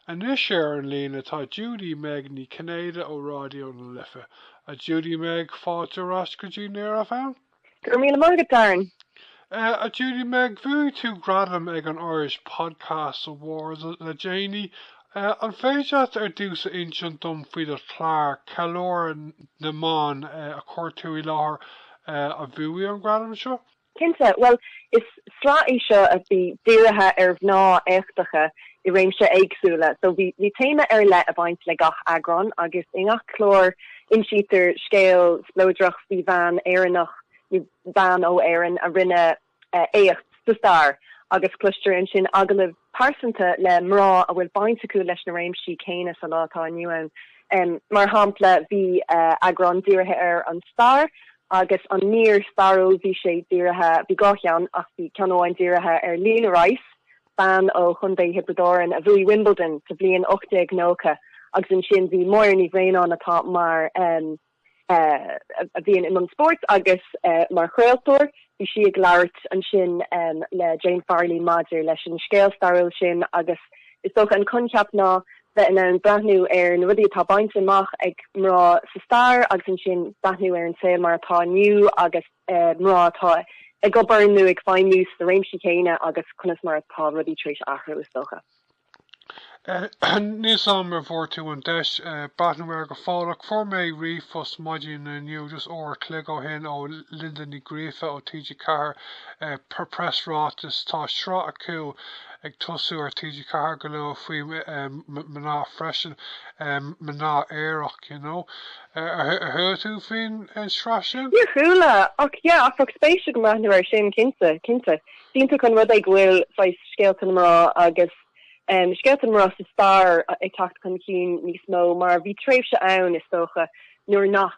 Anois ar an líne tá Judy Meg Ní Chinnéide ó Ráidió na Life. A Judy Meg, fáilte ar ais go dtí Near FM. Go raibh míle maith agat, Darren. A Judy Meg, bhuaigh tú gradam ag an Irish Podcast Awards le déanaí. An féidir leat ar dtús a insint dom faoi do chlár, Ceiliúradh na mBan, a chuir tú i láthair, a bhuaigh an gradam seo? Cinnte. Bhuel, is sraith í seo a bhí dírithe ar mhná éachtacha i réimse éagsúla so bhí téama ar leith ag baint le gach eagrán agus i ngach clár insítear scéal spleodrach faoi bhean Éireannach nó bean ó Éirinn a rinne éacht sa stair agus cloistear ansin agallamh pearsanta le mná a bhfuil baint acu leis na réimsí céanna sa lá atá inniu ann. Mar shampla, bhí eagrán dírithe ar an stair agus an mír stairiúil, bhí sé dírithe, bhí dhá cheann ach bhí ceann amháin dírithe ar Lena Rice, bean ó Chontae Thiobraid Árann a bhuaigh Wimbledon sa bhliain 1890 agus ansin bhí Máire Ní Bhraonáin atá mar. a bhíonn i mbun spóirt agus mar chraoltóir. Bhí sí ag labhairt ansin le Jane Farley maidir leis an scéal stairiúil sin agus is dócha an coincheap ná bheith in ann breathnú ar na rudaí atá bainte amach ag mná sa stair agus ansin breathnú ar an saol mar atá inniu agus mná atá ag obair nó ag feidhmiú sna réimsí céanna agus conas mar atá rudaí tar éis athrú is dócha. Níl a fhios agam an bhfuair tú an deis breathnú air go fóill ach, fuair mé ríomhphost maidin inniu just uair a chloig ó shin ó Linda Ní Ghríofa ó TG4, preasráiteas, tá sraith acu ag tosú ar TG4 go luath faoi mná freisin, mná aerach you know. Ar chuala tú faoin sraith sin? Níor chuala ach yeah, bheadh spéis agam breathnú air sin cinnte, cinnte. Is iontach an rud é go bhfuil saghas scéalta na mná agus scéalta na mná sa stair ag teacht chun cinn níos mó mar bhí tréimhse ann is dócha nuair nach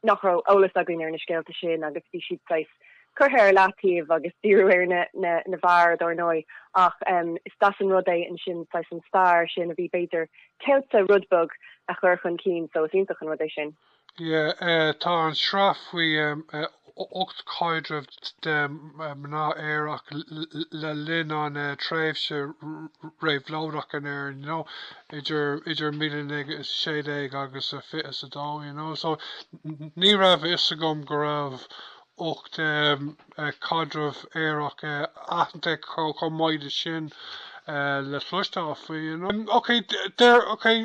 nach raibh eolas againn ar na scéalta sin agus bhí siad saghas curtha ar leataobh agus díriú ar na na na fir dár ndóigh ach is deas an rud é ansin saghas an stair sin a bhí b'fhéidir ceilte rud beag a chur chun cinn so is iontach an rud é sin. Tá an tsraith faoi ocht caidreamh de mhná aerach le linn an tréimhse réabhlóideach in Éirinn you know idir míle naoi gcéad is a sé déag agus a fiche is a dó you know so ní raibh a fhios agam go raibh ocht caidreamh aerach aitheanta comh maidir le sin le cloisteáil faoi you know okay there okay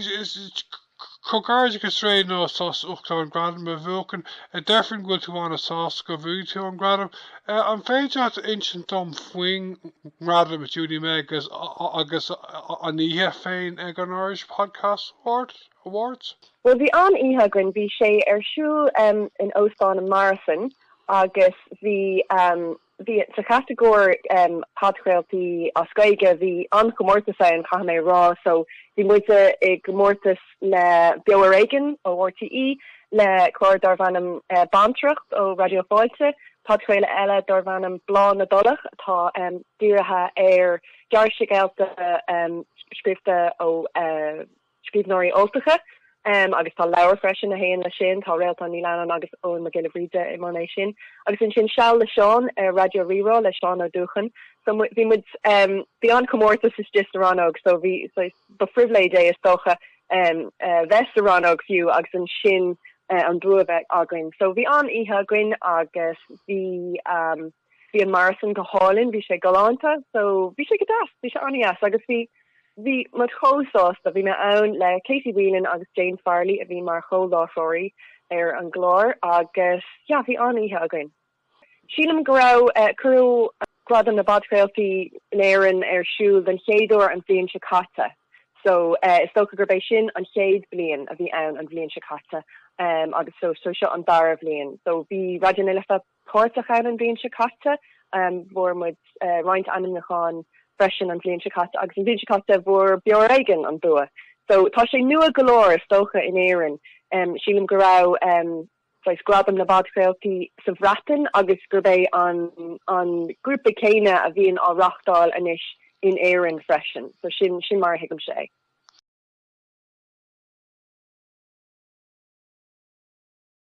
Comhghairdeachas Réiníos as ucht an gradam a bhuachan. Deirfinn go bhfuil tú ana sásta go bhuaigh tú an gradam. An féidir leat a insint dom faoin ngradam a Judy-Meg agus an oíche féin ag an Irish Podcast Awards? Bhuel bhí an-oíche againn. Bhí sé ar siúl in Óstán an Morrison agus bhí. bhí sa chatagóir Podchraoladh as Gaeilge, bhí an-chomórtas ann caithfidh mé a rá, so bhí muid i gcomórtas le Beo Ar Éigean ó RTÉ, le clár darbh ainm Bantracht ó Raidió Fáilte, podchraoladh eile darbh ainm Bláth na dTulach atá dírithe ar ghearrscéalta scríofa ó. scríbhneoirí Ultacha agus tá leabhar freisin a théann leis sin, tá Réaltán Ní Leannáin agus Eoghan Mac Giolla Bhríde i mbun é sin agus ansin Seal le Seán ar Raidió Rí-Rá le Seán Ó Dúchain so bhí muid, bhí an-chomórtas istigh sa rannóg so bhí, ba phribhléid é is dócha bheith sa rannóg fiú agus ansin an bua bheith againn so bhí an-oíche againn agus bhí. Bhí an Morrison go hálainn, bhí sé galánta so bhí sé go deas, bhí sé an-dheas agus bhí bhí muid chomh sásta. Bhí mé ann le Katie Whelan agus Jane Farley a bhí mar chomhláithreoirí ar an gclár agus yeah bhí an-oíche againn. Sílim go raibh eh, cuireadh Gradaim na bPodchraoltaí in Éirinn ar siúl den chéad uair an bhliain seo caite so eh, is dócha gurb é sin an chéad bliain a bhí ann an bhliain seo caite em agus so so seo an dara bhliain so bhí Raidió na Life páirteach ann an bhliain seo caite. Fuair muid roinnt ainmniúcháin freisin an bhliain seo caite agus an bhliain seo caite fuair Beo Ar Éigean an bua. So tá sé nua go leor is dócha in Éirinn. Sílim go raibh saghas Gradam na bPodchraoltaí sa Bhreatain agus gurb é an an grúpa céanna a bhíonn á reáchtáil anois in Éirinn freisin. So sin sin mar a thuigimse é.